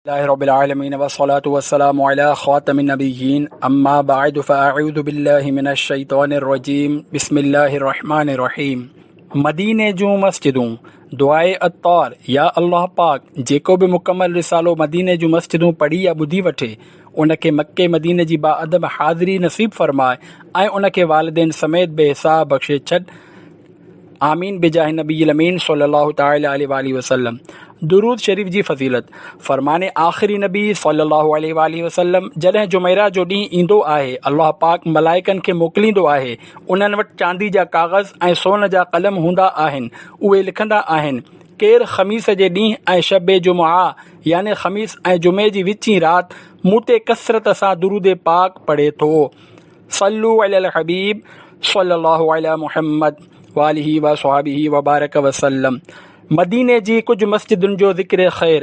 لله رب العالمين والصلاة والسلام على خاتم النبيين اما بعد فاعوذ بالله من الشيطان الرجيم بسم الله الرحمن الرحيم مديني جون مسجدون دعائي عطار يا الله پاڪ جيڪو به مڪمل رسالو مديني جون مسجدون پڙهي يا ٻڌي وٺي ان کي مڪي مديني جي باعدم حاضري نصيب فرماء ۽ ان کي والدين سميت بي حساب بخشي ڇڏ آمين بجاھ نبي الامين صلّي الله تعالٰي عليه واٰله وسلّم درود شريف جي فضيلت، فرمان آخر نبي صلّي الله عليه واٰله وسلّم جڏهن جمعرات جو ڏينهن ايندو آهي، الله پاڪ ملائڪن کي موڪليندو آهي، انهن وٽ چاندي جا ڪاغذ ۽ سون جا قلم هوندا آهن، اهي لکندا آهن، ڪير خميس جي ڏينهن ۽ شب جمعه يعني خميس ۽ جمعي جي وچين رات مون تي ڪثرت سان درود پاڪ پڙهي ٿو. صلو علی الحبيب صلّي الله علي محمّد واٰله واصحابه وبارڪ وسلّم مديني جي ڪجهه مسجدن جو ذڪر خير،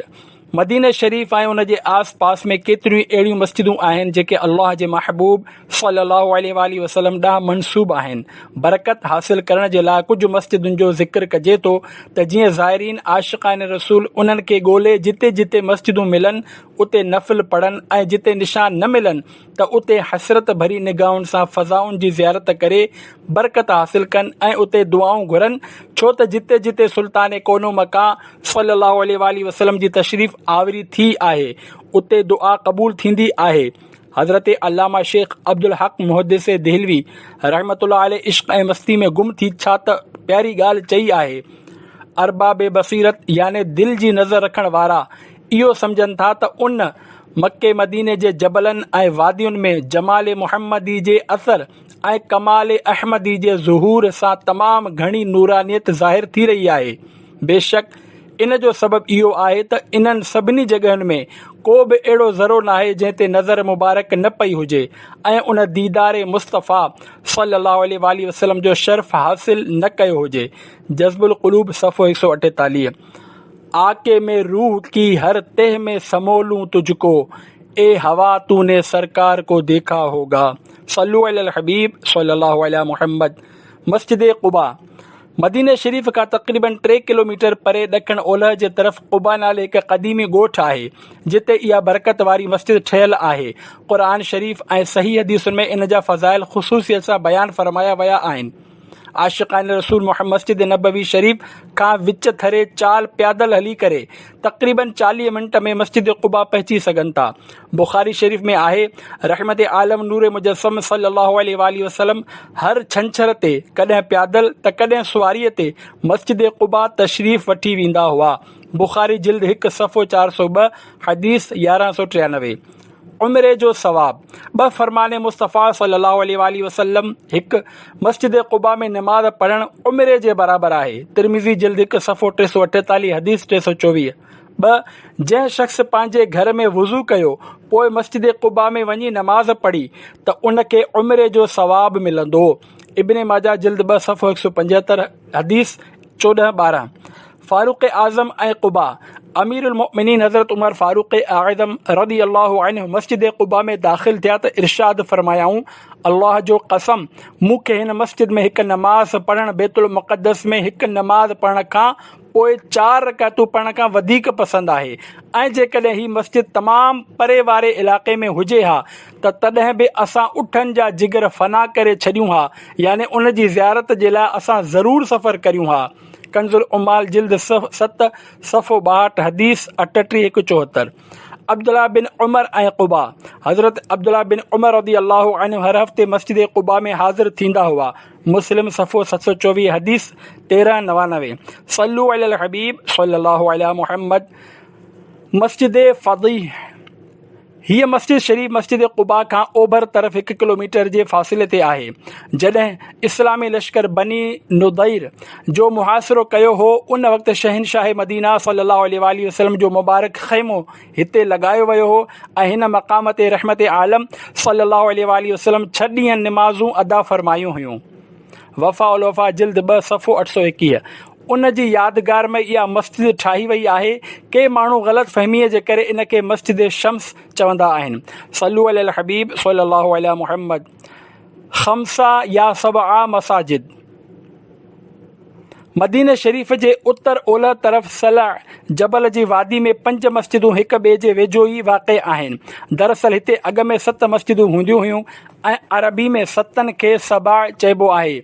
مديني شريف ۽ ان جي آس پاس ۾ ڪيتريون ئي اهڙيون مسجدون آهن جيڪي الله جي محبوب صلّي الله عليه واٰله وسلّم ڏانهن منسوب آهن، برڪت حاصل ڪرڻ جي لاء ڪجهه مسجدن جو ذڪر ڪجي ٿو ته جيئن زائرين عاشقان رسول انهن کي ڳولي جتي جتي مسجدون ملن اتي نفل پڙهن ۽ جتي نشان نه ملن ته اتي حسرت ڀري نگاهن سان فضائن جي زيارت ڪري برڪت حاصل ڪن ۽ اتي دعائون گهرن ڇو ته جتي جتي سلطان ڪونه مڪه صلّي اللّٰه عليه واٰله وسلّم جي تشريف آوري ٿي آهي اتي دعا قبول ٿيندي آهي حضرت علامه شيخ عبدالحق محدث دهلوي رحمة الله عليه عشق ۽ مستي ۾ گم ٿي ڇا ته پياري ڳالهه چئي آهي ارباب بصيرت يعني دل جي نظر رکڻ وارا اهو سمجهن ٿا ته ان مڪي مديني جي جبلن ۽ وادين ۾ جمال محمدي جي اثر ۽ ڪمال احمدي جي ظهور سان تمام گهڻي نورانيت ظاهر ٿي رهي آهي. بيشڪ ان جو سبب اهو آهي ته انهن سڀني جڳهين ۾ ڪو به اهڙو ذرو ناهي جنهن تي نظر مبارڪ نه پئي هجي ۽ ان ديدار مصطفيٰ صلّي اللّٰه عليه واٰله وسلّم جو شرف حاصل نه ڪيو هجي جذب القلوب صفحو هڪ سؤ اٺيتاليهه آ ڪي مين روح ڪي هر تهه مين سمو لون تجھ ڪو اي هوا تو ني سرڪار ڪو ديکا هوگا صلو علی الحبيب صلي الله علی محمد مسجد قباء مدينه شريف کان تقريبن ٽي ڪلوميٽر پري ڏکڻ اولهه جي طرف قباء نالي هڪ قديمي ڳوٺ آهي جتي اها برڪت واري مسجد ٺهيل آهي قرآن شريف ۽ صحيح حديثن ۾ ان جا فضائل خصوصيت سان بيان فرمايا ويا آهن عاشقان رسول محمد مسجد نبوي شريف کان وچ ٿري چال پيادل هلي ڪري تقريبن چاليهه منٽ ۾ مسجد قباء پهچي سگهن ٿا. بخاري شريف ۾ آهي، رحمت عالم نور مجسم صلّي الله عليه واٰله وسلّم هر ڇنڇر تي ڪڏهن پيادل ته ڪڏهن سواريء تي مسجد قباء تشريف وٺي ويندا هئا، بخاري جلد هڪ صفحو چار سؤ ٻه، حديث يارهن سؤ ٽيانوي. عمري جو ثواب، ٻه فرمان مصطفيٰ صلي الله عليه واٰله وسلم، هڪ، مسجد قباء ۾ نماز پڙهڻ عمري جي برابر آهي، ترمذي جلد هڪ صفحو ٽي سؤ اٺيتاليهه حديث ٽي سؤ چوويهه، ٻه، جنهن شخص پنهنجي گهر ۾ وضو ڪيو پوء مسجد قباء ۾ وڃي نماز پڙهي ته ان کي عمري جو ثواب ملندو، ابن ماجه جلد ٻه صفحو هڪ سؤ پنجهتر حديث چوڏهن، ٻارهن. فاروق اعظم ۽ قباء، امير المؤمنين حضرت عمر فاروق اعظم رضي الله عنه مسجد قباء ۾ داخل ٿيا ته ارشاد فرمايائون، الله جو قسم! مون کي هن مسجد ۾ هڪ نماز پڙهڻ بيت المقدس ۾ هڪ نماز پڙهڻ کان پوء چار رڪعتون پڙهڻ کان وڌيڪ پسند آهي ۽ جيڪڏهن هي مسجد تمام پري واري علائقي ۾ هجي ها ته تڏهن به اسان اٺن جا جگر فنا ڪري ڇڏيون ها يعني ان جي زيارت جي لاء اسان ضرور سفر ڪريون ها. ڪنز العمال جلد ست صفحو ٻاهٺ حديث اٺٽيهه هڪ چوهتر عبدالله بن عمر ۽ قبا حضرت عبدالله بن عمر رضي الله عنه هر هفتي مسجد قبا ۾ حاضر ٿيندا هئا مسلم صفحو ست سو چوويهه حديث تيرهن نوانوي صلو علی الحبيب صلي الله عليه محمد مسجد فضيح هيء مسجد شريف مسجد قباء کان اوڀر طرف هڪ ڪلوميٽر جي فاصلي تي آهي. جڏهن اسلامي لشڪر بني نضير جو محاصرو ڪيو هو، ان وقت شهنشاهه مدينه صلّي الله عليه واٰله وسلّم جو مبارڪ خيمو هتي لڳايو ويو هو ۽ هن مقام تي رحمت عالم صلّي الله عليه واٰله وسلّم ڇهه ڏينهن نمازون ادا فرمايون هيون. وفاء الوفاء جلد ٻه صفحو اٺ سؤ ايڪيهه ان جي يادگار ۾ اها مسجد ٺاهي وئي آهي ڪي ماڻهو غلط فهميء جي ڪري ان کي مسجد شمس چوندا آهن صلو علي الحبيب صلي الله علي محمد خمسه يا سبعه مساجد مديني شريف جي اتر اولهه طرف صلع جبل جي وادي ۾ پنج مسجدون هڪ ٻئي جي ويجهو ئي واقع آهن. دراصل هتي اڳ ۾ ست مسجدون هونديون هيون ۽ عربي ۾ ستن کي سبع چئبو آهي.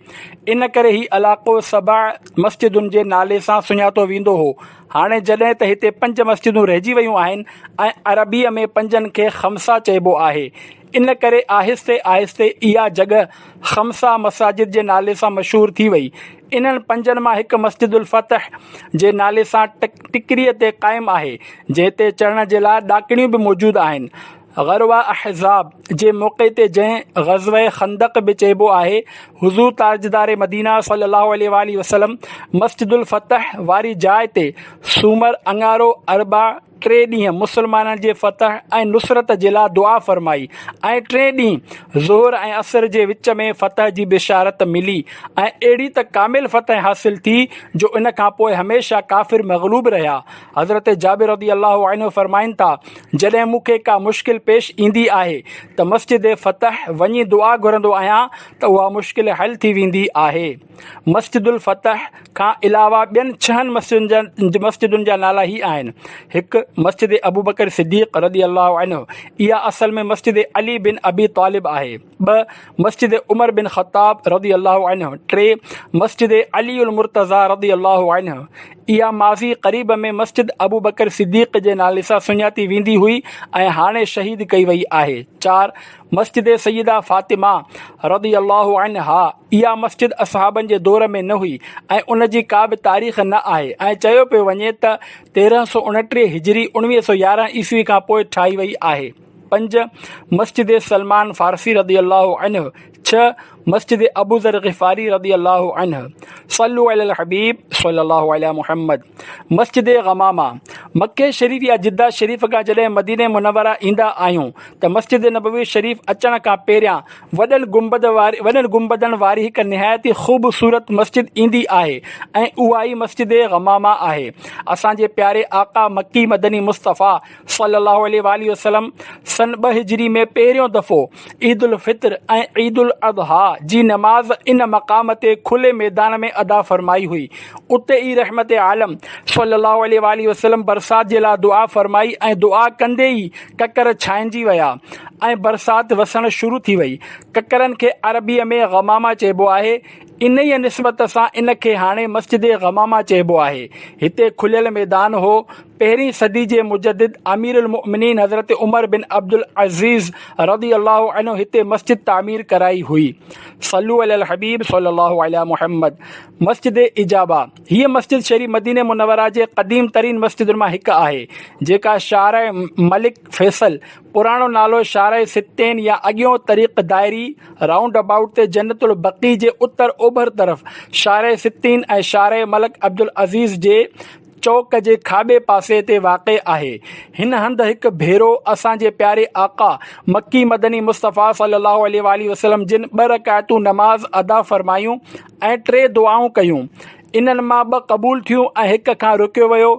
ان ڪري هي علاقو سبع مسجدن جي نالي سان سڃاتو ويندو هو. هاڻي جڏهن ته هتي پنج مسجدون رهجي ويون آهن ۽ عربيء ۾ پنجن کي خمسه چئبو آهي. ان ڪري آهستي آهستي اها جڳهه خمسه مساجد جي نالي سان مشهور ٿي وئي. انهن پنجن مان هڪ مسجد الفتح جي نالي سان ٽڪريء تي قائم آهي، جنهن تي چڙهڻ جي لاء ڏاڪڻيون به موجود آهن. غروة احزاب جي موقعي تي جنهن غزوة خندق به چئبو آهي، حضور تاجدار مدينه صلّي اللّٰه عليه واٰله وسلّم مسجد الفتح واري جاء تي سومر اڱارو اربع، ٽي ڏينهن مسلمانن جي فتح ۽ نصرت جي لاء دعا فرمائي ۽ ٽئين ڏينهن ظهر ۽ عصر جي وچ ۾ فتح جي بشارت ملي ۽ اهڙي ته ڪامل فتح حاصل ٿي جو ان کان پوء هميشه ڪافر مغلوب رهيا حضرت جابر رضي الله عنه فرمائن ٿا جڏهن مون کي ڪا مشڪل پيش ايندي آهي ته مسجد فتح وڃي دعا گهرندو آهيان ته اها مشڪل حل ٿي ويندي آهي. مسجد الفتح کان علاوه ٻين ڇهن مسجدن جا نالا هي آهن، هڪ، مسجد ابوبڪر صديق رضي الله عنه، اها اصل ۾ مسجد علي بن ابي طالب آهي، ٻه، مسجد عمر بن خطاب رضي الله عنه، ٽي، مسجد علي المرتضيٰ رضي الله عنه، اها ماضي قريب ۾ مسجد ابوبڪر صديق جي نالي سان سڃاتي ويندي هئي ۽ هاڻي شهيد ڪئي وئي آهي، چار، مسجد سيده فاطمه رضي الله عنها، اها مسجد اصحابن جي دور ۾ نه هئي ۽ ان جي ڪا به تاريخ نه آهي ۽ چيو پيو وڃي ته تيرهن سؤ اڻٽيهه هجري اڻويهه سؤ يارهن عيسوي کان پوء ٺاهي وئي آهي پنج مسجد سلمان فارسي رضي الله عنه ڇهه مسجد ابوذر غفاري رضي الله عنه صلو علي الحبيب صلي الله عليه محمد مسجد غماما مڪي شريف يا جده شريف کان جڏهن مدينه منوره ايندا آهيون ته مسجد نبوي شريف اچڻ کان پهريان وڏن گنبد واري وڏن گنبدن واري هڪ نهايت ئي خوبصورت مسجد ايندي آهي ۽ اها ئي مسجد غمامه آهي اسان جي پياري آقا مڪي مدني مصطفيٰ صلّي الله عليه واٰله وسلّم سن ٻه هجري ۾ پهريون دفعو عيد الفطر ۽ عيد الاضحيٰ جي نماز ان مقام تي کلي ميدان ۾ ادا فرمائي هئي اتي ئي رحمت عالم صلّي الله عليه واٰله وسلّم برسات جي لاء دعا فرمائي ۽ دعا ڪندي ئي ڪڪر ڇائنجي ويا ۽ برسات وسڻ شروع ٿي وئي. ڪڪرن کي عربيء ۾ غماما چئبو آهي. انهيء نسبت سان ان کي هاڻي مسجد غماما چئبو آهي. هتي کليل ميدان هو. پهرين صدي جي مجدد اميرالمؤمنين حضرت عمر بن عبدالعزيز رضي الله عنه هتي مسجد تعمير ڪرائي هئي. صلّو علي الحبيب صلّي الله عليٰ محمّد مسجد اجابه، هيء مسجد شهري مدينه منوره جي قديم ترين مسجدن مان هڪ آهي، جيڪا شارع ملڪ فيصل، پراڻو نالو شارع ستين يا اڳيون طريق دائري، رائونڊ ابائوٽ تي جنت البقيع جي اتر اوڀر طرف شارع ستين ۽ شارع ملڪ عبدالعزيز جي چوڪ جي کاٻي پاسي تي واقع آهي. هن هنڌ هڪ ڀيرو اسان جي پياري آقا مڪي مدني مصطفيٰ صلّي اللّٰه عليه واٰله وسلّم جن ٻه رڪعتون نماز ادا فرمايون ۽ ٽي دعائون ڪيون، انهن مان ٻه قبول ٿيون ۽ هڪ کان روڪيو ويو،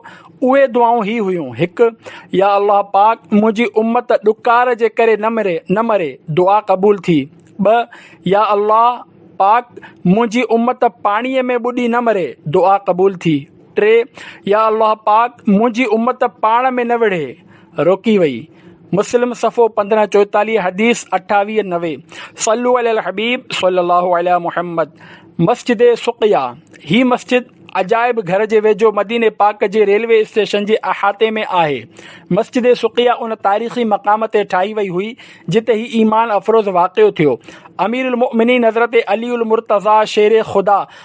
اهي دعائون هي هيون، هڪ، يا الله پاڪ منهنجي امت ڏڪار جي ڪري نه مري، نه مري، دعا قبول ٿي، ٻه، يا الله پاڪ منهنجي امت پاڻيء ۾ ٻڏي نه مري، دعا قبول ٿي، ٽي، يا الله پاڪ منهنجي امت پاڻ ۾ نه وڙهي، روڪي وئي. مسلم صفحو پندرهن چوئيتاليهه حديث اٺاويهه نوي صلو علي الحبيب صلي الله علي محمد مسجد سقيا هي مسجد عجائب گهر جي ويجهو مديني پاڪ جي ريلوي اسٽيشن جي احاطي ۾ آهي مسجد سقيا ان تاريخي مقام تي ٺاهي وئي هئي جتي هي ايمان افروز واقعو ٿيو اميرالمؤمنين حضرت علي المرتضيٰ شير خدا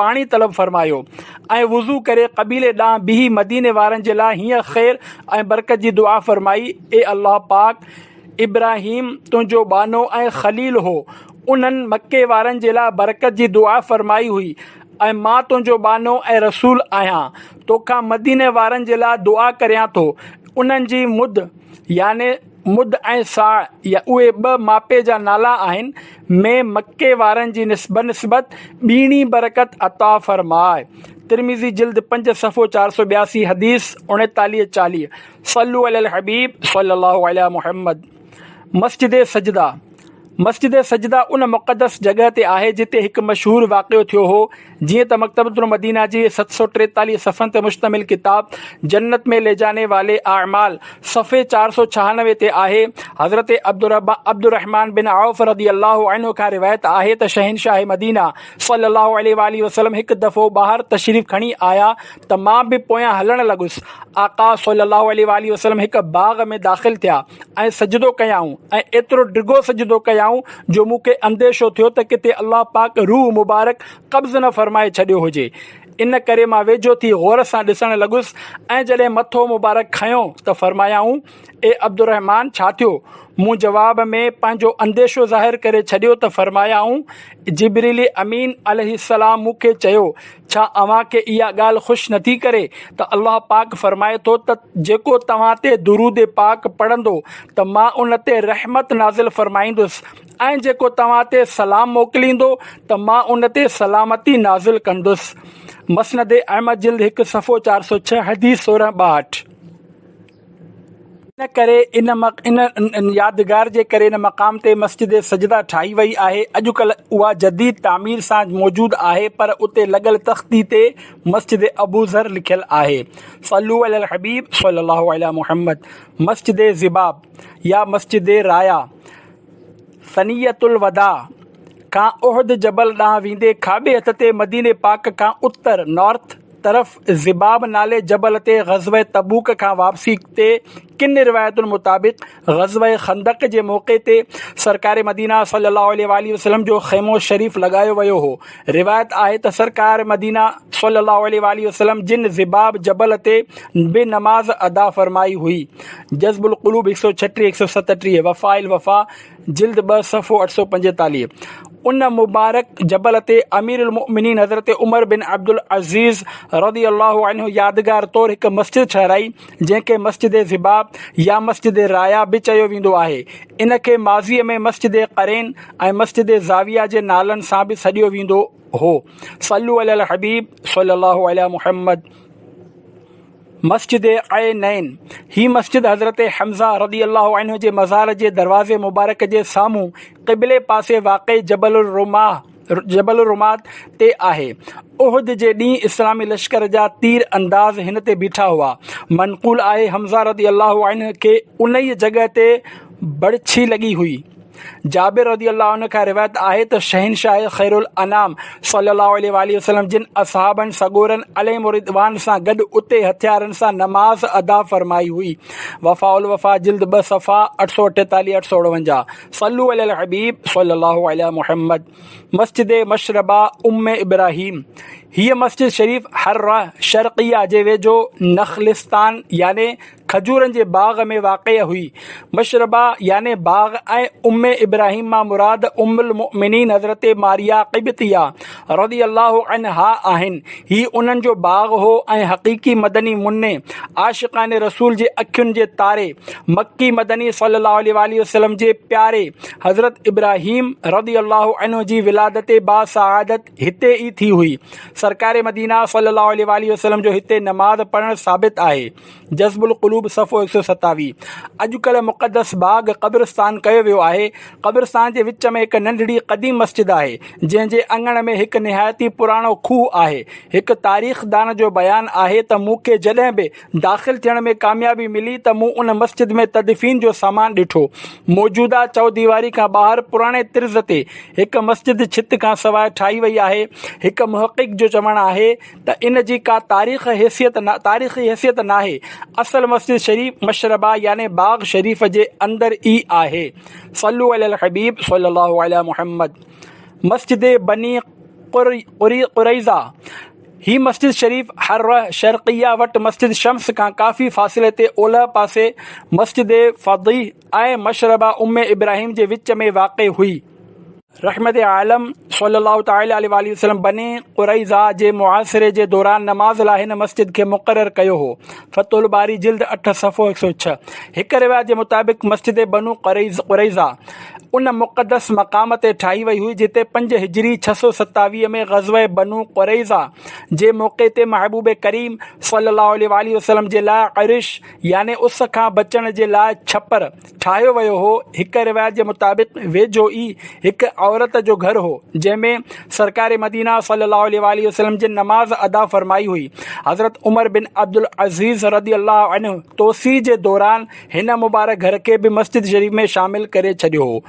پاڻي طلب فرمايو ۽ وضو ڪري قبيلي ڏانهن بيهي مديني وارن جي لاء هيئن خير ۽ برڪت جي دعا فرمائي، اي الله پاڪ! ابراهيم تنهنجو ٻانهو ۽ خليل هو، انهن مڪي وارن جي لاء برڪت جي دعا فرمائي هئي ۽ مان تنهنجو ٻانهو ۽ رسول آهيان، توکان مديني وارن جي لاء دعا ڪريان ٿو، انهن جي مد يعني. مد ۽ ساء يا اهي ٻه ماپي جا نالا آهن، ۾ مڪي وارن جي بنسبت ٻيڻي برڪت عطا فرماء. ترمذي جلد پنج صفحو چار سؤ ٻياسي حديث اڻيتاليهه چاليهه، صلو علی الحبيب صلّي الله عليٰ محمّد، مسجد سجده، مسجد سجده ان مقدس جڳهه تي آهي جتي هڪ مشهور واقعو ٿيو هو جيئن ته مڪتبة المدينه جي ست سؤ ٽيتاليهه صفحن تي مشتمل ڪتاب جنت مين لي جاني والي اعمال صفحي چار سؤ ڇهانوي تي آهي حضرت عبدالرحمان بن عوف رضي الله عنه کان روايت آهي ته شهنشاهه مدينه صلي الله عليه واٰله وسلم هڪ دفعو ٻاهر تشريف کڻي آيا ته مان به پويان هلڻ لڳس آقا صلي الله عليه واٰله وسلم هڪ باغ ۾ داخل ٿيا ۽ سجدو ڪيائون ۽ ايترو ڊگهو سجدو ڪيائون جو مون کي انديشو ٿيو ته ڪٿي الله پاڪ روح مبارڪ قبض نه فرمائي ڇڏيو هجي ان ڪري مان ويجهو ٿي غور سان ڏسڻ لڳس ۽ جڏهن مٿو مبارڪ کنيو ته فرمايائون اي عبدالرحمان ڇا ٿيو مون جواب ۾ پنهنجو انديشو ظاهر ڪري ڇڏيو ته فرمايائون جبريل امين عليه السلام مون کي چيو ڇا اوهان کي اها ڳالهه خوش نٿي ڪري ته الله پاڪ فرمائي ٿو ته جيڪو توهان تي درود پاڪ پڙهندو ته مان ان تي رحمت نازل فرمائيندس ۽ جيڪو توهان تي سلام موڪليندو ته مان ان تي سلامتي نازل ڪندس مسند احمد جلد هڪ صفحو چار سؤ ڇهه حديث سورهن ٻاهٺ ان ڪري ان يادگار جي ڪري ان مقام تي مسجد سجده ٺاهي وئي آهي. اڄڪلهه اها جديد تعمير سان موجود آهي پر اتي لڳل تختي تي مسجد ابوذر لکيل آهي. صلو علي الحبيب صلي الله علي محمد مسجد ذباب يا مسجد رايا، ثنية الوداع کان احد جبل ڏانهن ويندي کاٻي هٿ تي مديني پاڪ کان اتر، North، طرف ضباب نالي جبل تي غزوه تبوڪ کان واپسي تي ڪن روايتن مطابق غزوه خندق جي موقعي تي سرڪار مدينه صلّي اللّٰه عليه واٰله وسلّم جو خيمو شريف لڳايو ويو هو روايت آهي ته سرڪار مدينه صلي الله عليه واله وسلم جن زباب جبل تي به نماز ادا فرمائي هئي جذب القلوب هڪ سؤ ڇٽيهه هڪ سؤ ستٽيهه وفاء الوفا جلد ٻه صفحو اٺ سؤ پنجيتاليهه ان مبارڪ جبل تي امير المؤمنين حضرت عمر بن عبد العزيز رضي الله عنه يادگار طور هڪ مسجد ٺهرائي جنهن کي مسجد ضباب يا مسجد رايا به چيو ويندو آهي. ان کي ماضيء ۾ مسجد قرين ۽ مسجد زاويه جي نالن سان به سڏيو ويندو هو. صلو علي الحبيب صلي الله علي محمد. مسجد عينين، هي مسجد حضرت حمزه رضي الله عنه جي مزار جي دروازي مبارڪ جي سامهون قبلي پاسي واقع جبل الرماح، جبل الرماد تي آهي. احد جي ڏينهن اسلامي لشڪر جا تير انداز هن تي بيٺا هئا. منقول آهي حمزه رضي الله عنه کي انهيء جڳهه تي بڙڇي لڳي هئي. جابر رضي الله عنه کان روايت آهي ته شهنشاهه خيرالانام صلّي الله عليه واٰله وسلّم جن اصحابن سڳورن عليهم الرّضوان سان گڏ اتي هٿيارن سان نماز ادا فرمائي هئي، وفاء الوفاء جلد ٻه صفحا اٺ سؤ اٺيتاليھ، اٺ سؤ اڻونجاھ. صلو علي الحبيب صلي الله علي محمد مسجد مشربه ام ابراهيم هيء مسجد شريف حره شرقيه جي ويجهو نخلستان يعني کجورن جي باغ ۾ واقع هئي مشربه يعني باغ ۽ ام ابراهيم مان مراد ام المؤمنين حضرت ماريا قبطيه رضي الله عنها آهن. هي انهن جو باغ هو ۽ حقيقي مدني مني، عاشقان رسول جي اکين جي تاري، مڪي مدني صلّي الله عليه واٰله وسلّم جي پياري حضرت ابراهيم رضي الله عنه جي ولادت با سعادت هتي ئي ٿي هئي. سرڪار مدينه صلّي الله عليه واٰله وسلّم جو هتي نماز پڙهڻ ثابت آهي. جذب القلوب صفحو هڪ سؤ ستاويهه اڄڪلهه مقدس باغ قبرستان ڪيو ويو آهي قبرستان جي وچ ۾ هڪ ننڍڙي قديم مسجد آهي جنهن جي اڱڻ ۾ هڪ نهايت ئي پراڻو کوهه آهي هڪ تاريخدان جو بيان آهي ته مون کي جڏهن به داخل ٿيڻ ۾ ڪاميابي ملي ته مون ان مسجد ۾ تدفين جو سامان ڏٺو موجوده چئوديواري کان ٻاهر پراڻي طرز تي هڪ مسجد ڇت کانسواء ٺاهي وئي آهي هڪ محقق جو چوڻ آهي ته ان جي ڪا تاريخ حيثيت تاريخي حيثيت ناهي اصل مسجد شريف مشربه يعني باغ شريف جي اندر ئي آهي صلو علي الحبيب صلي الله علي محمد مسجد بني قريضا هي مسجد شريف حره شرقيه وٽ مسجد شمس کان ڪافي فاصلي تي اولهه پاسي مسجد فضيح ۽ مشربه ام ابراهيم جي وچ ۾ واقع هئي رحمت عالم صلّي الله تعالٰي عليه واٰله وسلّم بني قريظه جي محاصري جي دوران نماز لاء هن مسجد کي مقرر ڪيو هو، فتح الباري جلد اٺ صفحو هڪ سؤ ڇهه. هڪ روايت جي مطابق مسجد بنو قريظه ان مقدس مقام تي ٺاهي وئي هئي جتي پنج هجري ڇهه سؤ ستاويهه ۾ غزوه بنو قريظه جي موقعي تي محبوب ڪريم صلّي الله عليه واٰله وسلّم جي لاء عرش يعني اس کان بچڻ جي لاء ڇپر ٺاهيو ويو هو. هڪ روايت جي مطابق ويجهو ئي هڪ عورت جو گهر هو، جنهن ۾ سرڪار مدينه صلّي اللّٰه عليه واٰله وسلّم جي نماز ادا فرمائي هئي. حضرت عمر بن عبدالعزيز رضي الله عنه توسيع جي دوران هن مبارڪ گهر کي به مسجد شريف ۾ شامل ڪري ڇڏيو هو.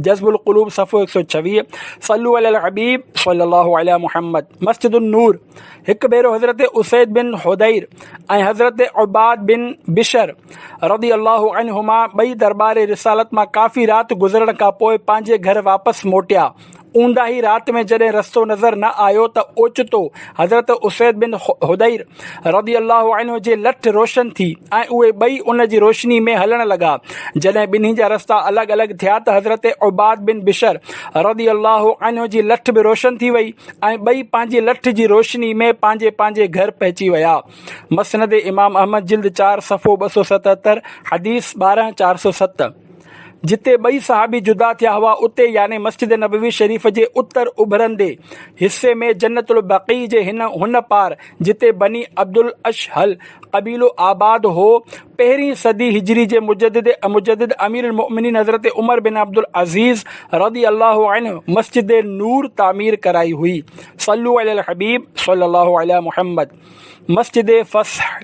جذب القلوب صفحو هڪ سؤ ڇويهه صلو علي الحبيب صلي الله علي محمد مسجد النور هڪ ڀيرو حضرت اسيد بن حدير ۽ حضرت عباد بن بشر رضي الله عنهما ٻئي دربار رسالت مان ڪافي رات گذرڻ کان پوء پنهنجي گهر واپس موٽيا اونداهي رات ۾ جڏهن رستو نظر نه آيو ته اوچتو حضرت اسيد بن حدير رضي الله عنه جي لٺ روشن ٿي ۽ اهي ٻئي ان جي روشني ۾ هلڻ لڳا. جڏهن ٻنهي جا رستا الڳ الڳ ٿيا ته حضرت عباد بن بشر رضي الله عنه جي لٺ به روشن ٿي وئي ۽ ٻئي پنهنجي لٺ جي روشني ۾ پنهنجي پنهنجي گهر پهچي ويا. مسند امام احمد جلد چار صفحو ٻه سؤ ستهتر، حديث ٻارهن چار سؤ ست. جتي ٻئي صحابي جدا ٿيا هئا اتي يعني مسجد نبوي شريف جي اتر اڀرندي حصي ۾ جنت البقيع جي هن هن پار جتي بني عبدالاشهل قبيلو آباد هو پهرين صدي هجري جي مجدد مجدد امير المؤمنين حضرت عمر بن عبدالعزيز رضي الله عنه مسجد نور تعمير ڪرائي هئي صلو علي الحبيب صلي الله علي محمد مسجد فصح،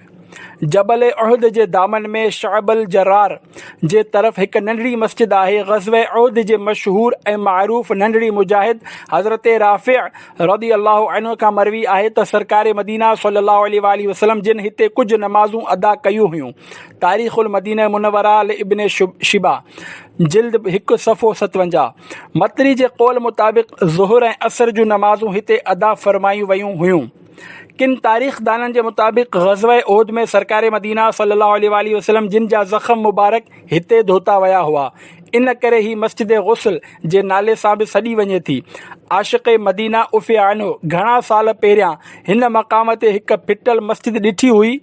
جبل احد جي دامن ۾ شعب الجرار جي طرف هڪ ننڍڙي مسجد آهي. غزوه احد جي مشهور ۽ معروف ننڍڙي مجاهد حضرت رافع رضي الله عنه کان مروي آهي ته سرڪار مدينه صلّي الله عليه واٰله وسلّم جن هتي ڪجهه نمازون ادا ڪيون هيون. تاريخ المدينه المنوره لابن شيبه، جلد هڪ صفحو ستونجاهه، مطري جي قول مطابق ظهر ۽ عصر جون نمازون هتي ادا فرمايون ويون هيون. ڪن تاريخدانن جي مطابق غزوه احد ۾ سرڪار مدينه صلي الله عليه واٰله وسلم جن جا زخم مبارڪ هتي ڌوتا ويا هئا ان ڪري هي مسجد غسل جي نالي سان به سڏي وڃي ٿي عاشق مدينه عفيه عنه گهڻا سال پهريان هن مقام تي هڪ ڦٽل مسجد ڏٺي هئي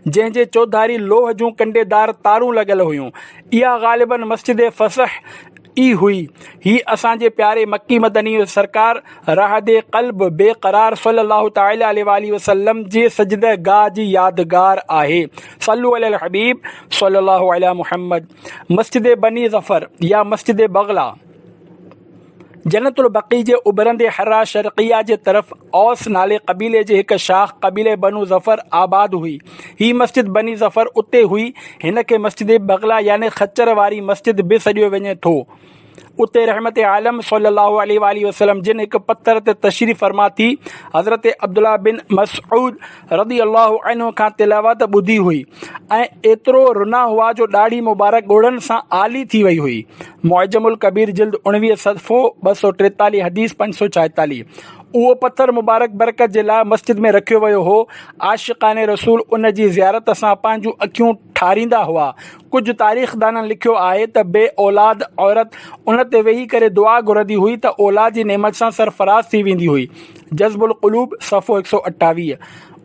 جنهن جي چوڌاري لوهه جون ڪنڊي دار تارون لڳل هيون. اها غالباً مسجد فصح ئي هئي. هي اسان جي پياري مڪي مدني سرڪار رهاد قلب بي قرار صلّي الله تعالٰي عليه واٰله وسلّم جي سجده گاهه جي يادگار آهي. صلّو علي الحبيب صلّي الله عليه محمّد. مسجد بني ظفر يا مسجد بغلا. جنت البقيع جي اڀرندي حرا شرقيه جي طرف اوس نالي قبيلي جي هڪ شاخ قبيلي بنو ظفر آباد هئي. هي مسجد بني ظفر اتي هئي. هن کي مسجد بغلا يعني خچر واري مسجد به سڏيو وڃي ٿو. اتي رحمت عالم صلّي اللّٰه عليه واٰله وسلّم جن هڪ پٿر تي تشريف فرما ٿي حضرت عبدالله بن مسعود رضي الله عنه کان تلاوت ٻڌي هئي ۽ ايترو رنا هئا جو ڏاڙهي مبارڪ ڳوڙهن سان آلي ٿي وئي هئي. معجم الڪبير جلد اڻويهه صفحو ٻه سؤ ٽيتاليهه حديث پنج سؤ ڇايتاليهه اهو پٿر مبارڪ برڪت جي لاء مسجد ۾ رکيو ويو هو، عاشقان رسول ان جي زيارت سان پنهنجون اکيون ٺاريندا هئا، ڪجهه تاريخدانن لکيو آهي ته بي اولاد عورت ان تي ويهي ڪري دعا گهرندي هئي ته اولاد جي نعمت سان سرفراز ٿي ويندي هئي. جذب القلوب صفحو هڪ سؤ اٺاويهه،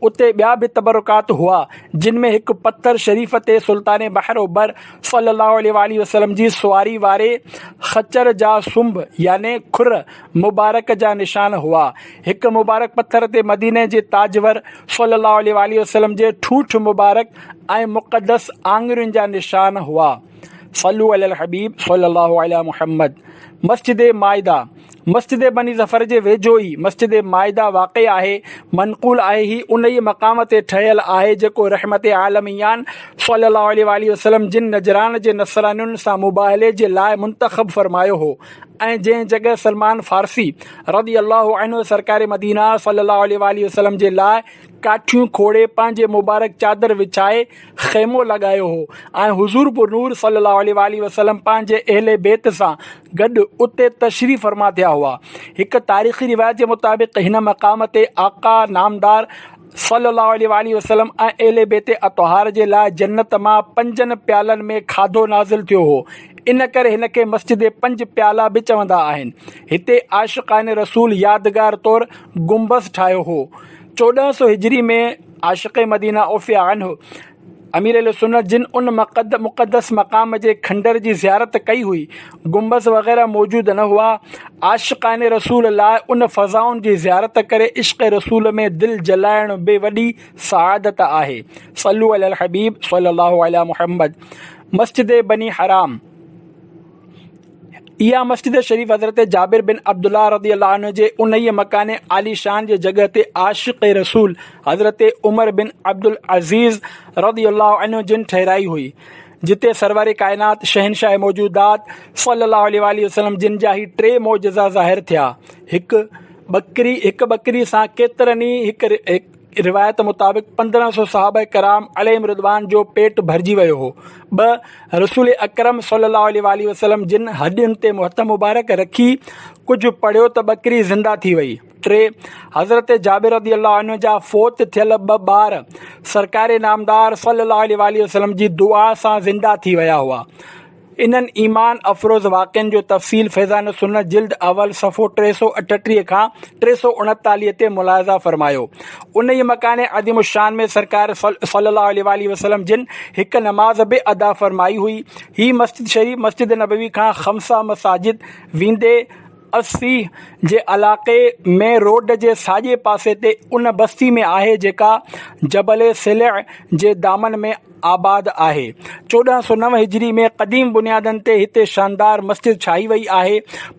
اتي ٻيا به تبرڪات هئا، جن ۾ هڪ پٿر شريف تي سلطان بحر و بر صلّي اللّٰه عليه واٰله وسلّم جي سواري واري خچر جا سنب يعني کر مبارڪ جا نشان هئا. هڪ مبارڪ پٿر تي مديني جي تاجور صلّي اللّٰه عليه واٰله وسلّم جي ٺوٺ مبارڪ ۽ مقدّس آڱرين جا نشان هئا. صلّو علي الحبيب صلّي اللّٰه علي محمّد. مسجد مائده، مسجد بني ظفر جي ويجهو ئي مسجد مائده واقع آهي. منقول آهي هي انهيء مقام تي ٺهيل آهي جيڪو رحمت عالميان صلّي اللّٰه عليه واٰله وسلّم جن نجران جي نصرانين سان مباهلي جي لاء منتخب فرمايو هو ۽ جنهن جڳهه سلمان فارسي رضي اللّٰه عنه سرڪار مدينه صلّي اللّٰه عليه واٰله وسلّم جي لاء ڪاٺيون کوڙي پنهنجي مبارڪ چادر وڇائي خيمو لڳايو هو ۽ حضور پرنور صلّي اللّٰه عليه واٰله وسلّم پنهنجي اهل بيت سان گڏ اتي تشريف فرما ٿيا هئا. هڪ تاريخي روايت جي مطابق هن مقام تي آقا نامدار صلّي اللّٰه عليه واٰله وسلّم ۽ اهل بيت اطهار جي لاء جنّت مان پنجن پيالن ۾ کاڌو نازل ٿيو هو، ان ڪري هن کي مسجد پنج پيالا به چوندا آهن. هتي عاشقان رسول يادگار طور گنبذ ٺاهيو هو. چوڏهن سؤ هجري ۾ عاشق مدينه عوف عنه، امير اهلسنت جن ان مقدس مقام جي کنڊر جي زيارت ڪئي هئي، گنبذ وغيره موجود نه هئا. عاشقان رسول لاء ان فضائن جي زيارت ڪري عشق رسول ۾ دل جلائڻ به وڏي سعادت آهي. صلّو علي الحبيب صلّي الله عليٰ محمّد. مسجد بني حرام. اها مسجد شريف حضرت جابر بن عبدالله رضي الله عنه جي انهيء مڪان عاليشان جي جڳهه تي عاشق رسول حضرت عمر بن عبدالعزيز رضي الله عنه جن ٺهرائي هئي جتي سرور ڪائنات شهنشاهه موجودات صلي الله عليه واٰله وسلم جن جا هي ٽي معجزا ظاهر ٿيا هڪ ٻڪري هڪ ٻڪري سان ڪيترن ئي هڪ روايت مطابق پندرهن سؤ صحابه ڪرام عليهم الرضوان جو پيٽ ڀرجي ويو هو. ٻه، رسول اڪرم صلي الله عليه واٰله وسلم جن هڏين تي هٿ مبارڪ رکي ڪجهه پڙهيو ته ٻڪري زنده ٿي وئي. ٽي، حضرت جابر رضي الله عنه جا فوت ٿيل ٻه ٻار سرڪار نامدار صلي الله عليه واٰله وسلم جي دعا سان زنده ٿي ويا هئا. انهن ايمان افروز واقعن جو تفصيل فيضان السنه جلد اول صفحو ٽي سؤ اٺٽيهه کان ٽي سؤ اڻيتاليهه تي ملاحظه فرمايو. انهيء مڪان عظيم الشان ۾ سرڪار صلّي اللّٰه عليه واٰله وسلّم جن هڪ نماز به ادا فرمائي هئي. هي مسجد شريف مسجد نبوي کان خمسه مساجد ويندي اسّي جي علاقي مين روڊ جي ساڄي پاسي تي ان بستي ۾ آهي جيڪا جبل صلّع جي دامن ۾ آباد آهي. چوڏهن سؤ نو هجري ۾ قديم بنيادن تي هتي شاندار مسجد ٺاهي وئي آهي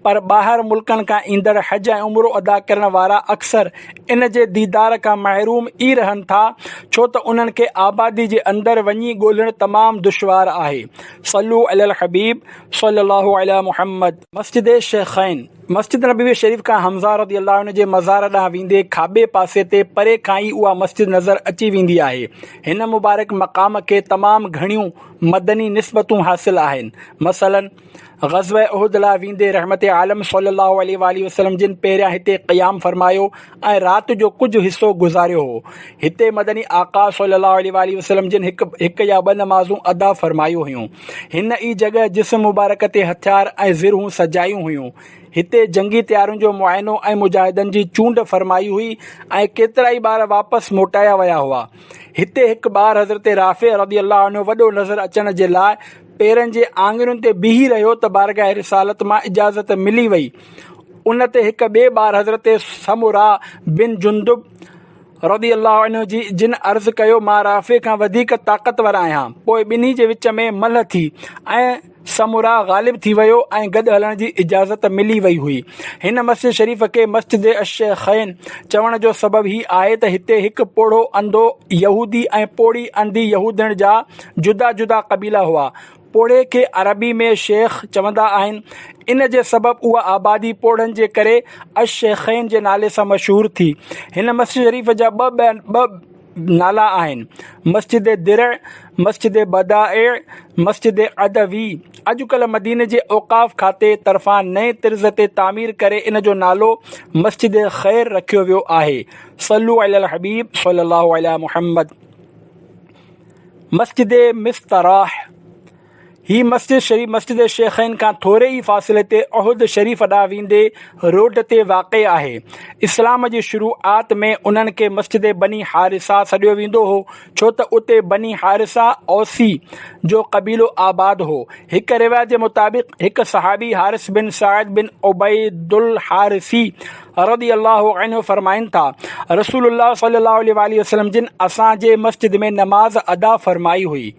پر ٻاهر ملڪن کان ايندڙ حج ۽ عمرو ادا ڪرڻ وارا اڪثر ان جي ديدار کان محروم ئي رهن ٿا ڇو ته انهن کي آبادي جي اندر وڃي ڳولهڻ تمام دشوار آهي صلو علی الحبيب صلي الله علی محمد مسجد شيخين. مسجد نبوي شريف کان حمزه رضي الله عنه جي مزار ڏانهن ويندي کاٻي پاسي تي پري کان ئي اها مسجد نظر اچي ويندي آهي. هن مبارڪ مقام کي تمام گهڻيون مدني نسبتون حاصل آهن. مثلاً، غزوه احد لاء ويندي رحمت عالم صلّي الله عليه واٰله وسلّم جن پهريان هتي قيام فرمايو، ۽ رات جو ڪجهه حصو گذاريو هو. هتي مدني آقا صلي الله عليه واٰله وسلم جن هڪ هڪ يا ٻه نمازون ادا فرمايون هيون. هن ئي جڳهه جسم مبارڪ تي هٿيار ۽ زرهون سجايون هيون. هتي جنگي تيارين جو معائنو ۽ مجاهدن جي چونڊ فرمائي هئي ۽ ڪيترائي ٻار واپس موٽايا ويا هئا. هتي هڪ ٻار حضرت رافع رضي الله عنه وڏو نظر اچڻ جي لاء پيرن جي آڱرين تي بيهي رهيو ته بارگاهه رسالت مان اجازت ملي وئي ان تي هڪ ٻئي ٻار حضرت سمره بن جندب رضي الله عنه جي جن عرض ڪيو مان رافع کان وڌيڪ طاقتور آهيان پوء ٻنهي جي وچ ۾ ملهه ٿي ۽ سمره غالب ٿي ويو ۽ گڏ هلڻ جي اجازت ملي وئي هئي هن مسجد شريف کي مسجد الشيخين چوڻ جو سبب هي آهي ته هتي هڪ پوڙهو انڌو يهودي ۽ پوڙهي انڌي يهودڻ جا جدا جدا قبيلا هئا پوڙهي کي عربي ۾ شيخ چوندا آهن. ان جي سبب اها آبادي پوڙهن جي ڪري الشيخين جي نالي سان مشهور ٿي. هن مسجد شريف جا ٻه ٻه نالا آهن، مسجد درع، مسجد بدائع، مسجد عدوي. اڄ ڪلهه مديني جي اوقاف کاتي طرفان نئين طرز تي تعمير ڪري ان جو نالو مسجد خير رکيو ويو آهي. صلّو علي الحبيب صلّي الله علي محمّد. مسجد مستراح، هي مسجد شريف مسجد شيخين کان ٿوري ئي فاصلي تي احد شريف ڏانهن ويندي روڊ تي واقع آهي. اسلام جي شروعات ۾ انهن کي مسجد بني حارثه سڏيو ويندو هو ڇو ته اتي بني حارثه اوسي جو قبيلو آباد هو. هڪ روايت جي مطابق هڪ صحابي حارث بن سعد بن عبيدالحارثي رضي الله عنه فرمائن ٿا، رسول الله صلي الله عليه واٰله وسلم جن اسان جي مسجد ۾ نماز ادا فرمائي هئي.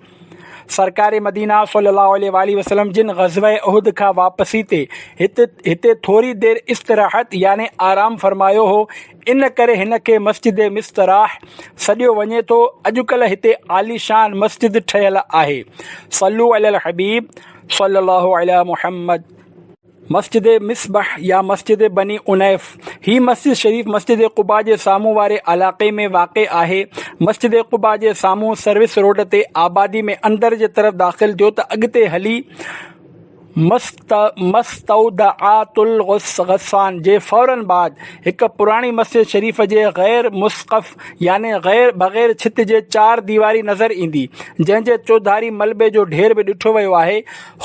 سرڪار مدينه صلي الله عليه واٰله وسلم جن غزوه احد کان واپسي تي هت هتي ٿوري دير استراحت يعني آرام فرمايو هو، ان ڪري هن کي مسجد مستراح سڏيو وڃي ٿو، اڄڪلهه هتي عاليشان مسجد ٺهيل آهي. صلو علي الحبيب صلي الله علي محمد. مسجد مصبح يا مسجد بني عنيف، هي مسجد شريف مسجد قباء جي سامهون واري علاقي ۾ واقع آهي. مسجد قباء جي سامهون سروس روڊ تي آبادي ۾ اندر جي طرف داخل ٿيو ته اڳتي هلي مستودعات الغسان جي فورن بعد هڪ پراڻي مسجد شريف جي غير مسقف يعني بغير ڇت جي چار ديواري نظر ايندي جنهن جي چوڌاري ملبي جو ڍير به ڏٺو ويو آهي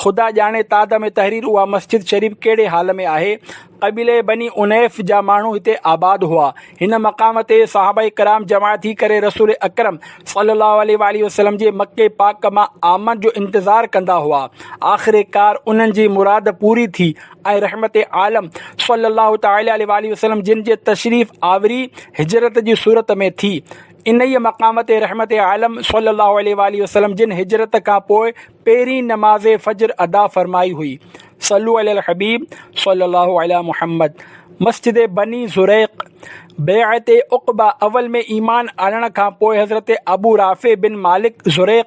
خدا ڄاڻي تاد ۾ تحرير اها مسجد شريف ڪهڙي حال ۾ آهي. قبيلي بني عنيف جا ماڻهو هتي آباد هئا. هن مقام تي صحابه ڪرام جمع ٿي ڪري رسول اڪرم صلي الله عليه واٰله وسلم جي مڪي پاڪ مان آمد جو انتظار ڪندا هئا. آخر ڪار انهن جي مراد پوري ٿي ۽ رحمت عالم صلي الله تعالٰي عليه واٰله وسلم جن جي تشريف آوري هجرت جي صورت ۾ ٿي. انهيء مقام تي رحمت عالم صلي الله عليه واٰله وسلم جن هجرت کان پوء پهرين نماز فجر ادا فرمائي هئي، صلو علی الحبيب صلّي الله عليٰ محمّد، مسجد بني زريق، بيعت عقبه اول ۾ ايمان آڻڻ کان پوء حضرت ابو رافع بن مالڪ زريق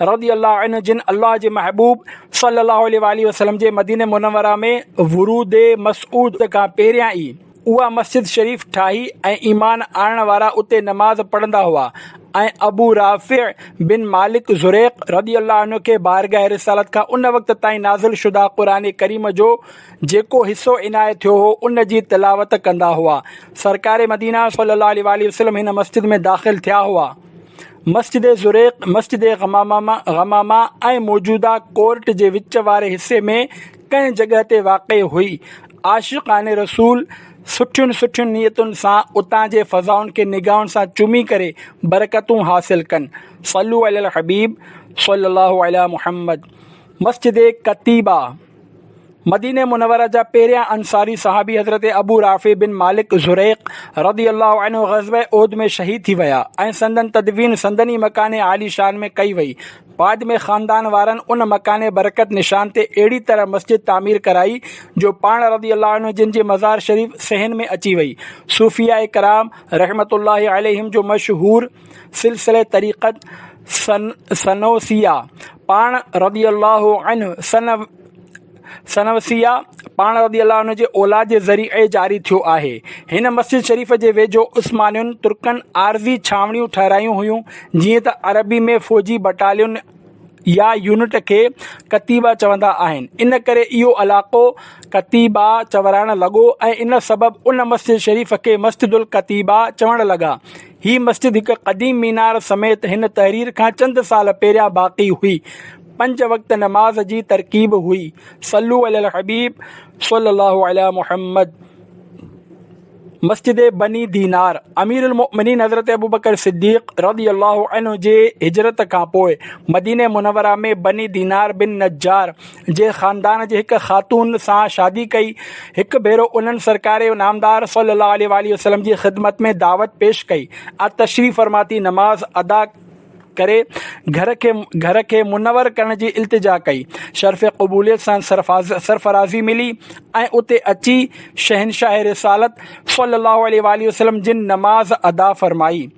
رضي الله عنه جن الله جي محبوب صلّي الله عليه واٰله وسلّم جي مدينه منوره ۾ ورود مسعود کان پهريان ئي اها مسجد شريف ٺاهي ۽ ايمان آڻڻ وارا اتي نماز پڙهندا هئا ۽ ابو رافع بن مالڪ زريق رضي الله عنه کي بارگاهه رسالت کان ان وقت تائين نازل شده قرآن ڪريم جو جيڪو حصو عنايت ٿيو هو ان جي تلاوت ڪندا هئا سرڪار مدينه صلي الله عليه واٰله وسلم هن مسجد ۾ داخل ٿيا هئا مسجد زريق مسجد غمامه ۽ موجوده ڪورٽ جي وچ واري حصي ۾ ڪنهن جڳهه تي واقع هئي. عاشقان رسول سٺين سٺين نيتن سان اتان جي فضائن کي نگاهن سان چمي ڪري برڪتون حاصل ڪن. صلو علي الحبيب صلي الله علي محمد مسجد قتيبه مديني منوره جا پهريان انصاري صحابي حضرت ابو رافع بن مالڪ زريق رضي الله عنه غزوه احد ۾ شهيد ٿي ويا ۽ سندن تدفين سندن ئي مڪان عالي شان ۾ ڪئي وئي. بعد ۾ خاندان وارن ان مڪان برڪت نشان تي اهڙي طرح مسجد تعمير ڪرائي جو پاڻ رضي الله عنه جن جي مزار شريف صحن ۾ اچي وئي. صوفياء ڪرام رحمة الله عليهم جو مشهور سلسله طريقت سنوسيه پاڻ رضي الله عنه سنه سنه وسيعه پاڻ رضي الله عنه جي اولاد جي ذريعي جاري ٿيو آهي. هن مسجد شريف جي ويجهو عثمانين، ترڪن، عارضي ڇانوڻيون ٺهرايون هيون، جيئن ته عربي ۾ فوجي بٽالين يا يونٽ کي ڪتيبه چوندا آهن، ان ڪري اهو علائقو ڪتيبه چورائڻ لڳو ۽ ان سبب ان مسجد شريف کي مسجد الڪتيبه چوڻ لڳا. هي مسجد هڪ قديم مينار سميت هن تحرير کان چند سال پهريان باقي هئي. پنج وقت نماز جي ترڪيب هئي. صلو علي الحبيب صلي الله علي محمد مسجد بني دينار امير المؤمنين حضرت ابوبڪر صديق رضي الله عنه جي هجرت کان پوء مديني منوره ۾ بني دينار بن نجار جي خاندان جي هڪ خاتون سان شادي ڪئي هڪ ڀيرو انهن سرڪار نامدار صلي الله عليه واٰله وسلم جي خدمت ۾ دعوت پيش ڪئي ۽ تشريف فرما ٿي نماز ادا ڪري گهر کي گهر کي منور ڪرڻ جي التجا ڪئي شرف قبوليت سان سرفاز سرفرازي ملي ۽ اتي اچي شهنشاهه رسالت صلّي اللّٰه عليه واٰله وسلّم جن نماز ادا فرمائي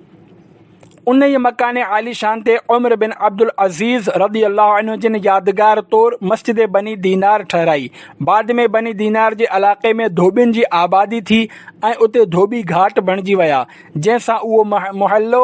انهيء مڪان عاليشان تي عمر بن عبدالعزيز رضي الله عنه جن يادگار طور مسجد بني دينار ٺهرائي بعد ۾ بني دينار جي علاقي ۾ ڌوٻين جي آبادي ٿي ۽ اتي ڌوٻي گهاٽ بڻجي ويا جنهن سان اهو محلو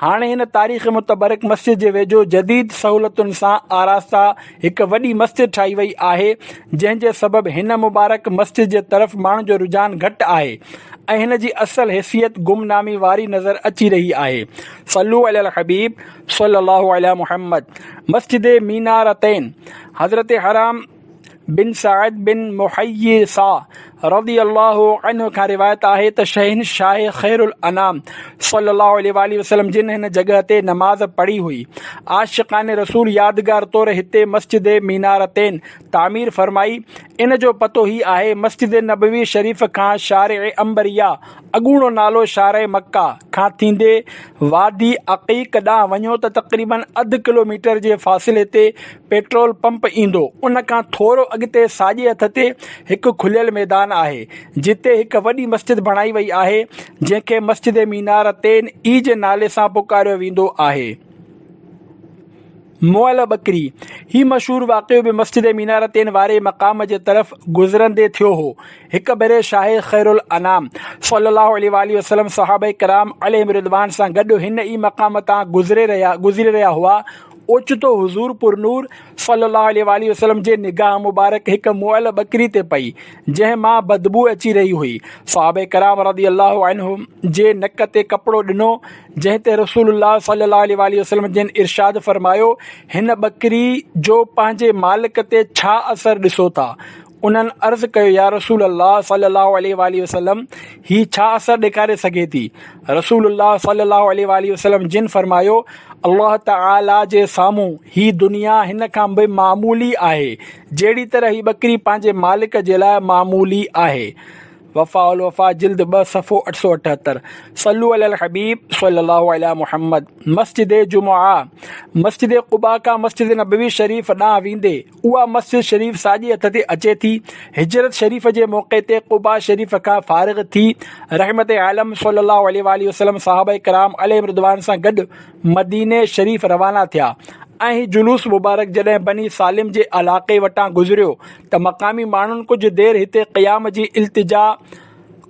هاڻ هن تاريخ متبرڪ مسجد جي ويجهو جديد سهولتن سان آراسته هڪ وڏي مسجد ٺاهي وئي آهي جنهن جي سبب هن مبارڪ مسجد جي طرف ماڻهن جو رجحان گهٽ آهي ۽ هن جي اصل حيثيت گم نامي واري نظر اچي رهي آهي صلو علي الحبيب صلي الله علي محمد مسجد مينارتين حضرت حرام بن سعد بن محيصه رضي الله عنه کان روايت آهي ته شهنشاهه خير الانام صلي الله عليه واٰله وسلم جن هن جڳهه تي نماز پڙهي هئي، عاشقان رسول يادگار طور هتي مسجد مينارتين تعمير فرمائي، ان جو پتو هي آهي، مسجد نبوي شريف کان شارع عنبريه، اڳوڻو نالو شارع مڪه، کان ٿيندي وادي عقيق ڏانهن وڃو ته تقريبن اڌ ڪلوميٽر جي فاصلي تي پيٽرول پمپ ايندو. ان کان ٿورو اڳتي ساڄي هٿ تي هڪ کليل ميدان آهي، جتي هڪ وڏي مسجد بڻائي وئي آهي، جنهن کي مسجد مينارتين ئي جي نالي سان پڪاريو ويندو آهي. مئل ٻڪري، هي مشهور واقعو به مسجد مينارتين واري مقام جي طرف گذرندي ٿيو هو. هڪ ڀيري شاهه خيرالانام صلّي اللّٰه عليه واٰله وسلّم صحابه ڪرام عليهم الرّضوان سان گڏ هن ئي مقام تان گذري رهيا گذري رهيا هئا، اوچتو حضور پرنور صلّي اللّٰه عليه واٰله وسلّم جي نگاهه مبارڪ هڪ مئل ٻڪري تي پئي، جنهن مان بدبوء اچي رهي هئي. صحابه ڪرام رضي اللّٰه عنهم جي نڪ تي ڪپڙو ڏنو، جنهن تي رسول الله صلّي اللّٰه عليه واٰله وسلّم جن ارشاد فرمايو، هن ٻڪري جو پنهنجي مالڪ تي ڇا اثر ڏسو ٿا؟ انهن عرض ڪيو، يا رسول الله صلّي اللّٰه عليه واٰله وسلّم! هي ڇا اثر ڏيکاري سگهي ٿي؟ رسول الله صلّي اللّٰه عليه واٰله وسلّم جن فرمايو، الله تعالٰي جي سامهون هي دنيا هن کان به معمولي آهي، جهڙي طرح هي ٻڪري پنهنجي مالڪ جي لاء معمولي آهي. وفاء الوفاء جلد ٻه صفحو اٺ سؤ اٺهتر. صلّو علي الحبيب صلّي اللّٰه عليه محمّد. مسجد جمعه، مسجد قباء کان مسجد نبوي شريف ڏانهن ويندي، اها مسجد شريف ساڄي هٿ تي اچي ٿي. هجرت شريف جي موقعي تي قباء شريف کان فارغ ٿي رحمت عالم صلي الله عليه واٰله وسلم صحابه ڪرام عليهم رضوان سان گڏ مديني شريف روانا ٿيا ۽ هي جلوس مبارڪ جڏهن بني سالم جي علاقي وٽان گذريو ته مقامي ماڻهن ڪجهه دير هتي قيام جي التجا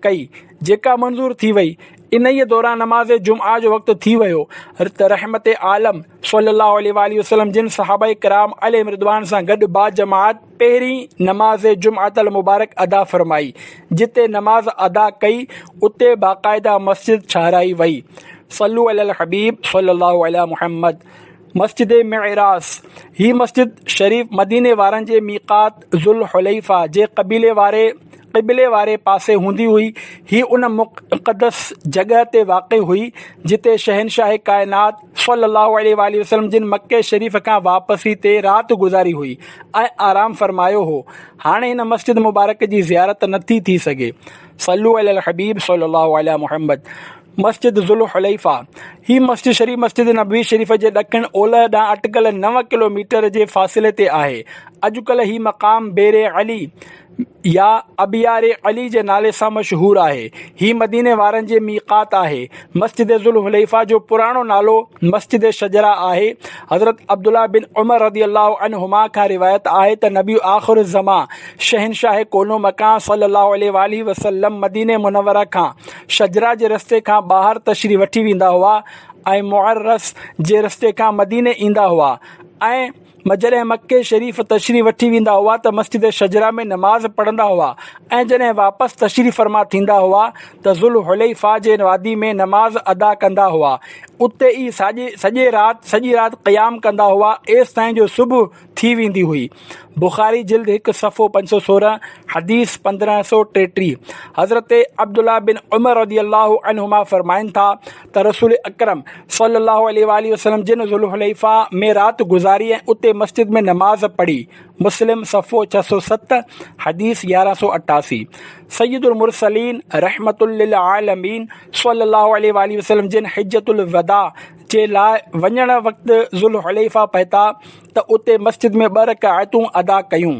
ڪئي جيڪا منظور ٿي وئي. انهيء دوران نماز جمعه جو وقت ٿي ويو ته رحمت عالم. صلّي اللّٰه عليه واٰله وسلّم جن صحابه ڪرام عليهم الرّضوان سان گڏ باجماعت پهرين نماز جمعة المبارڪ ادا فرمائي، جتي نماز ادا ڪئي اتي باقاعده مسجد ٺهرائي وئي، صلّو علي الحبيب صلّي اللّٰه عليه محمّد، مسجد معراث، هي مسجد شريف مديني وارن جي ميقات، ذوالحليفه جي قبيلي واري قبلي واري پاسي هوندي هئي هي ان مقدس جڳهه تي واقع هئي جتي شهنشاهه ڪائنات صلّي اللّٰه عليه واٰله وسلّم جن مڪي شريف کان واپسي تي رات گذاري هئي ۽ آرام فرمايو هو هاڻي هن مسجد مبارڪ جي زيارت نٿي ٿي سگهي صلّو علي الحبيب صلّي اللّٰه علي محمّد مسجد ذوالحليفه، هي مسجد شريف مسجد نبوي شريف جي ڏکڻ اولهه ڏانهن اٽڪل نو ڪلو ميٽر جي فاصلي تي آهي. اڄڪلهه هي مقام بئر علي يا ابيار علي جي نالي سان مشهور آهي. هي مديني وارن جي ميقات آهي. مسجد ذوالحليفه جو پراڻو نالو مسجد شجره آهي. حضرت عبدالله بن عمر رضي الله عنهما کان روايت آهي ته نبي آخر الزمان شهنشاهه ڪونو مڪان صلّي الله عليه واٰله وسلّم مديني منوره کان شجرا جي رستي کان ٻاهر تشريح وٺي ويندا هئا ۽ معرس جي رستي کان مديني ايندا هئا ۽ جڏهن مڪي شريف تشريح وٺي ويندا هئا ته مسجد شجرا ۾ نماز پڙهندا هئا ۽ جڏهن واپس تشريح فرما ٿيندا هئا ته ذوالحليفه جي وادي ۾ نماز ادا ڪندا هئا اتي ئي سڄي رات سڄي رات قيام ڪندا هئا ايستائين جو صبح ٿي ويندي هئي. بخاري جلد هڪ صفحو پنج سؤ سورهن حديث پندرهن سؤ ٽيٽيهه حضرت عبدالله بن عمر رضي الله عنهما فرمائن ٿا ته رسول اڪرم صلي الله عليه واٰله وسلم جن ذوالحليفه ۾ رات گذاري ۽ اتي مسجد ۾ نماز پڙهي، مسلم صفحو ڇهه سؤ ست حديث يارهن سؤ اٺاسي، سيد المرسلين رحمة للعالمين صلي الله عليه واٰله وسلم جن حجة الوداع، جي لاء وڃڻ وقت ذوالحليفه پهتا ته اتي مسجد ۾ ٻه رڪعتون ادا ڪيون.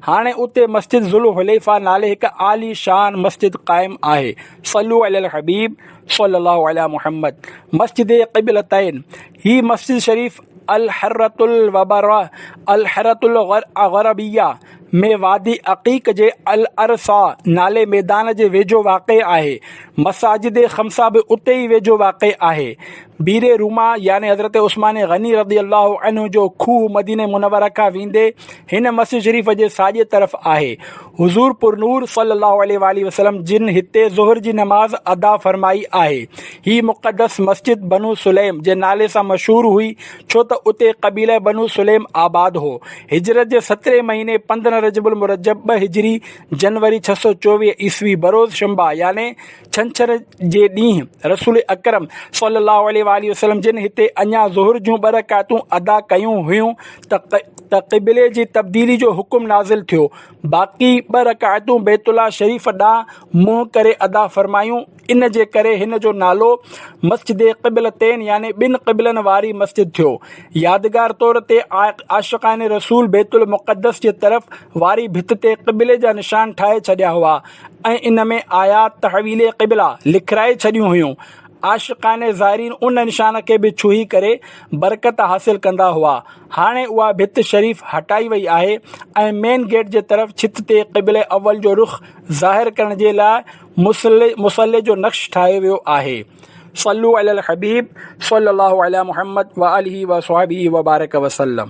هاڻي اتي مسجد ذوالحليفه نالي هڪ عالي شان مسجد قائم آهي، صلو علي الحبيب صلّي الله عليٰ محمّد، مسجد قبلتين، هي مسجد شريف الحرّة الوبرّة، الحرّة الغربيّة، ۾ وادي عقيق جي الارصا نالي ميدان جي ويجهو واقع آهي. مساجد خمسه به اتي ئي ويجهو واقع آهي. بير رومه يعني حضرت عثمان غني رضي الله عنه جو کوهه مدينه منوره کان ويندي هن مسجد شريف جي ساڄي طرف آهي. حضور پرنور صلي الله عليه واٰله وسلم جن هتي ظهر جي نماز ادا فرمائي آهي. هي مقدس مسجد بنو سليم جي نالي سان مشهور هئي. ڇو ته اتي قبيله بنو سليم آباد هو. هجرت جي سترهين مهيني پندرهن رجب المرجب ٻه هجري، جنوري ڇهه سؤ چوويهه عيسوي، بروز شنبه يعني ڇنڇر جي ڏينهن رسول اڪرم صلّي اللّٰه عليه واٰله وسلّم جن هتي اڃا ظهر جون ٻه رڪعتون ادا ڪيون هيون ته قبلي جي تبديلي جو حڪم نازل ٿيو، باقي ٻه رڪعتون بيت الله شريف ڏانهن منهن ڪري ادا فرمايون. ان جي ڪري هن جو نالو مسجد قبلتين يعني ٻن قبلن واري مسجد ٿيو. يادگار طور تي عاشقان رسول بيت المقدس جي طرف واري ڀت تي قبلي جا نشان ٺاهي ڇڏيا هئا ۽ ان ۾ آيات تحويل قبله لکرائي ڇڏيون هيون. عاشقان زائرين ان نشان کي به ڇهي ڪري برڪت حاصل ڪندا هئا. هاڻي اها ڀت شريف هٽائي وئي آهي ۽ مين گيٽ جي طرف ڇت تي قبله اول جو رخ ظاهر ڪرڻ جي لاء مصلي مصلي جو نقش ٺاهيو ويو آهي. صلو علي الحبيب صلي الله علي محمد وآله وصحبه وبارڪ وسلم.